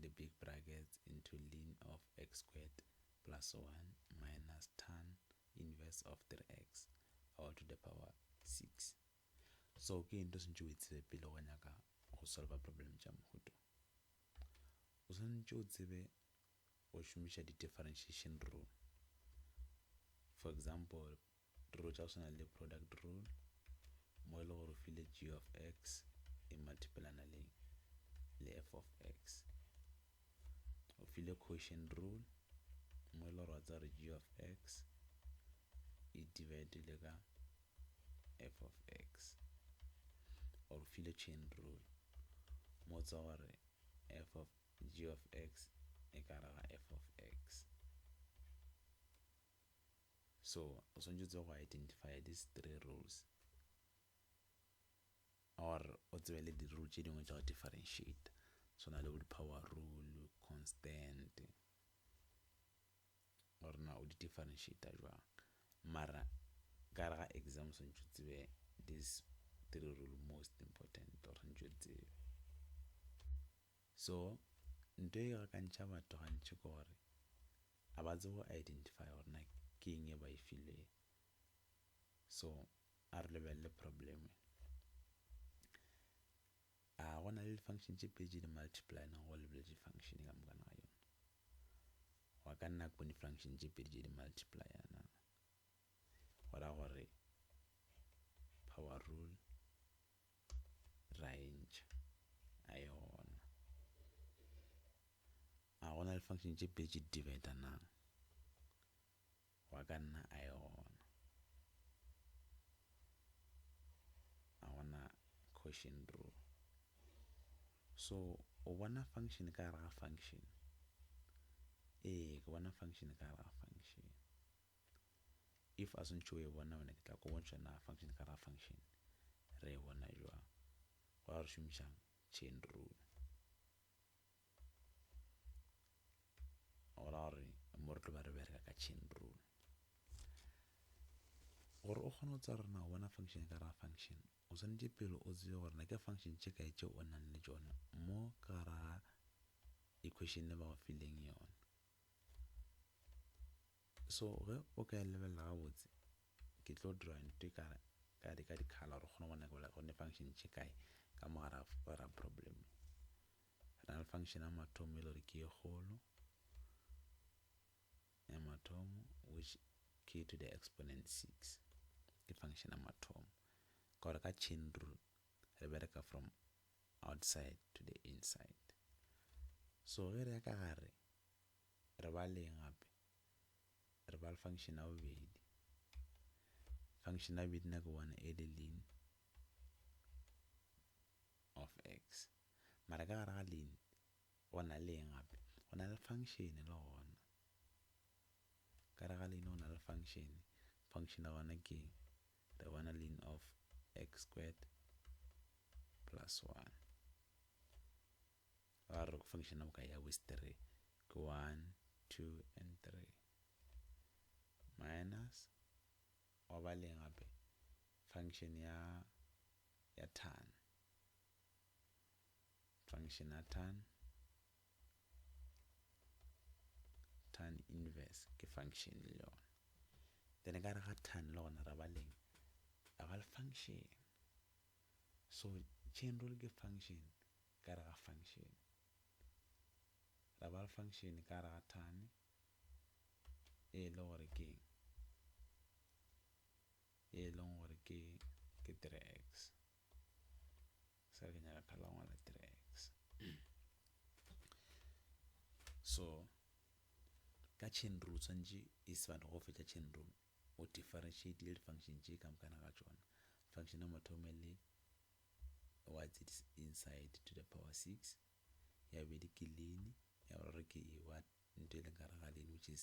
the big brackets into ln of x squared plus 1 minus tan inverse of 3x all to the power 6. So ke eng to sentše o e tsebe pele go nyaka go solva problem tša mohuto? O sentše o tsebe go šomiša di-differentiation rule. For example, Rule tša go swana le product rule mo e le gore o file g of x e multiplyana le le f of x o file quotient rule mo e le gore wa tsa gore g of x e divide le ka f of x or file chain rule mo tsa gore f of g of x e ka raga f of x so o swanetše o tsebe go identify these three rules or o tsebe le di rule tše dingwe tša go differentiate swana le bo di power rule constant gore na o di differentiate bjang mara ka gare ga exam o swanetše o tsebe these three rule most important o swanetše o tsebe so ntho e gakantšha batho gantši ke gore a ba tsebe go identify gore na ke eng e ba e filwe so a re lebelele problem e a go na le di-function tše pedi di multiply na go lebele di-function ka mokana ga yone go ka nna ko di-function tše pedi tše di multiply na go ra gore power rule ra e ntšha a yona A go na le function tše pedi tše di dividanang? Wa ka nna a e gona. A go na quotient rule. So o bona function ka gare ga function. Ee, ke bona function ka gare ga function. If a swantšhe o e bona wena ke tla ko bontšha na function ka gare ga function re e bona jwang. Go ra re šomišang chain rule. gora gore mo re tlo ba re bereka ka chain rule gore o kgone go tsara na o bona function ka ra function o swanetše pele o tsebe gore na ke function tše kae tše o nang le tšona mo ka ra equation le ba go fileng yona so ge o ka e lebelela gabotse ke tlo dira ntho e ka ka di ka dikhala gore kgone go nakela gone function tše kae ka mogara ra problem Re na le function ya mathomo e le gore ke e kgolo ya mathomo which k to the exponent 6 ke function ya mathomo ka gore ka chain rule re bereka from outside to the inside so ge re ya ka gare re ba leng gape re ba le function ya bobedi function ya bobedi na ke bona e le lean of x Mara ka gare ga lein go na le eng gape? Go na le function le gona. Ka gare ga lein go na le function. Function ya gona ke eng? Re bona lein of x squared plus 1. Ra re function ya boka ya with 3 ke 1, 2 and 3 minus wa ba le eng gape? Function ya ya tan. function ya tan tan inverse ke function le yona then ka gare ga tan le gona ra ba leng ra ba le function so chain rule ke function ka gare ga function ra ba le function ka gare ga tan e le gore ke eng e leng gore ke ke 3x sa ke nyaka khala ngwala tracks so ka chain rule tshwanetse e se batho go fetša chain rule o differentiate le di-function tše ka mokana ga tšona function ya mathomo e le what's it inside to the power six ya bobedi ke lean ya boraro ke ewa ntho e leng kare ga lean which is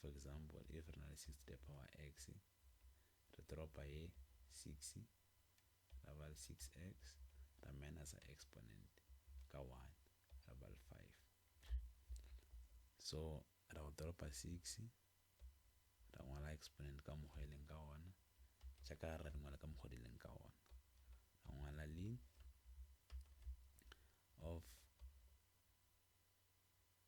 For example, if re na le 6 to the power x, re toropa ye 6 ra ba le 6x ra minusa exponent ka 1 ra ba le 5. So ra go toropa 6 ra ngwala exponent ka mokgwa e leng ka ona, tša ka gare ra di ngwala ka mokgwa di leng ka ona. Ra ngwala lin of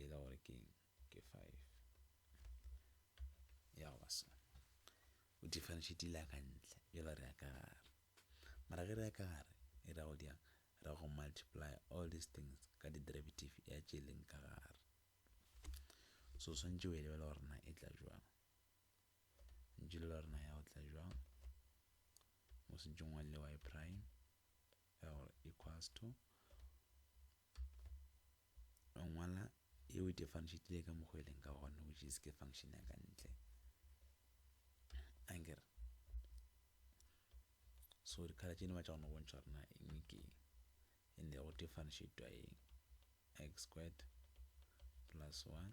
e le gore ke eng ke 5 ya go ba so o differentiate ile ka ntle jalo re ya ka gare mara ge re ya ka gare e ra go di yang ra go multiply all these things ka di derivative ya tše e leng ka gare so swantše o e lebela gore na e tla jwang ntše lebela gore na ya go tla jwang mo sentšong wa le y prime ya gore equals to o ngwala e o differentiatile ka mokgwa eleng ka gona which is ke function ya ka ntle anger so dikhala tše ne ba tša gona bontšha gore na eng ke and go differentiatwa eng x squared plus 1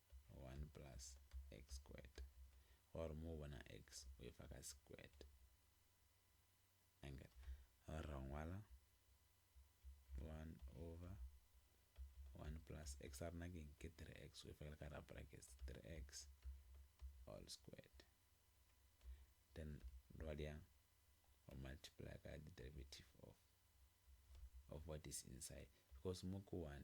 1 plus x squared gore mo bona x o e fa ka squared angle gore ra ngwala 1 over 1 plus x a rena ke ke 3x o e fa ka ra brackets 3x all squared then ra dia o multiply ka the derivative of of what is inside because mo ko 1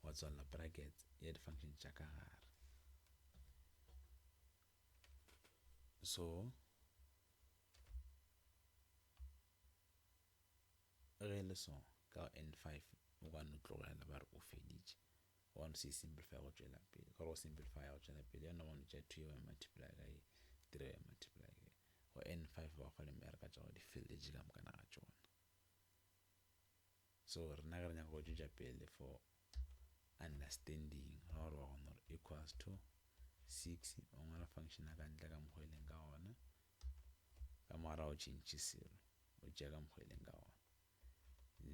gwa tswalela brackets ya di-function tša ka gare so ge le so ka n5 o ka no tlogela ba re o feditše wa no se simplify go tšwela pele ka go simplify go tšwela pele yona wa no tša 2 ya multiply ka ye 3 ya multiply ka ye go n5 ba go le mereka tša go di feletše ka moka na ga tšona So rena ge re nyaka go tšwetša pele for understanding, ra gore wa kgona gore equals to six, o ngwala function ya ka ntle ka mokgwa eleng ka gona, ka mogara o tšhentšhe zero, o tšea ka mokgwa eleng ka gona.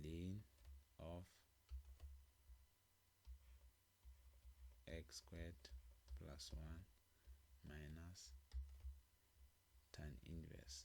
Lane of x squared plus one minus tan inverse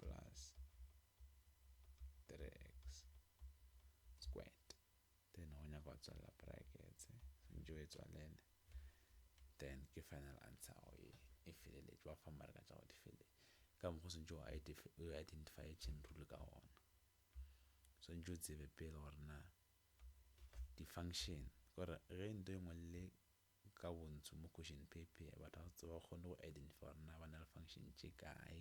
plus 3x squared then go nyaka go tswalela brackets swantšo e tswalele then ke final answer go ye e feleletše wa fa mareka tša go di fele ka mokgwa swantšo o identify chain rule ka gona swantšo tsebe pele gore na di function gore ge ntho e ngwe le Ka bontsu mo question paper batho ga se ba kgone go identify gore na ba na le function tše kae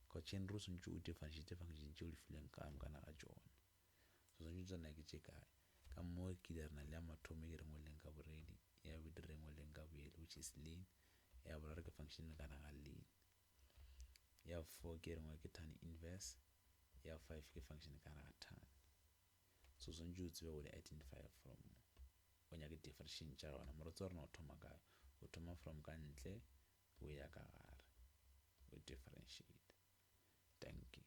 because chain rule swantše o differentiate function tše o di filweng ka monkana ga tšone so swantše o tsena ke tše kae ka mo ke ile re na le ya mathomo e ke re ngweleng ka boredi ya bobedi re ngweleng ka boele which is leen ya boraro ke function e mekana ga leen ya four ke re ngwe ke tan inverse ya five ke function e kana ga tan So swantše o tsebe gore identify from o nyake definition tša yona. Morotse wa rena o thoma kae? O thoma from ka ntle o ya ka gare o differentiate. Dankie.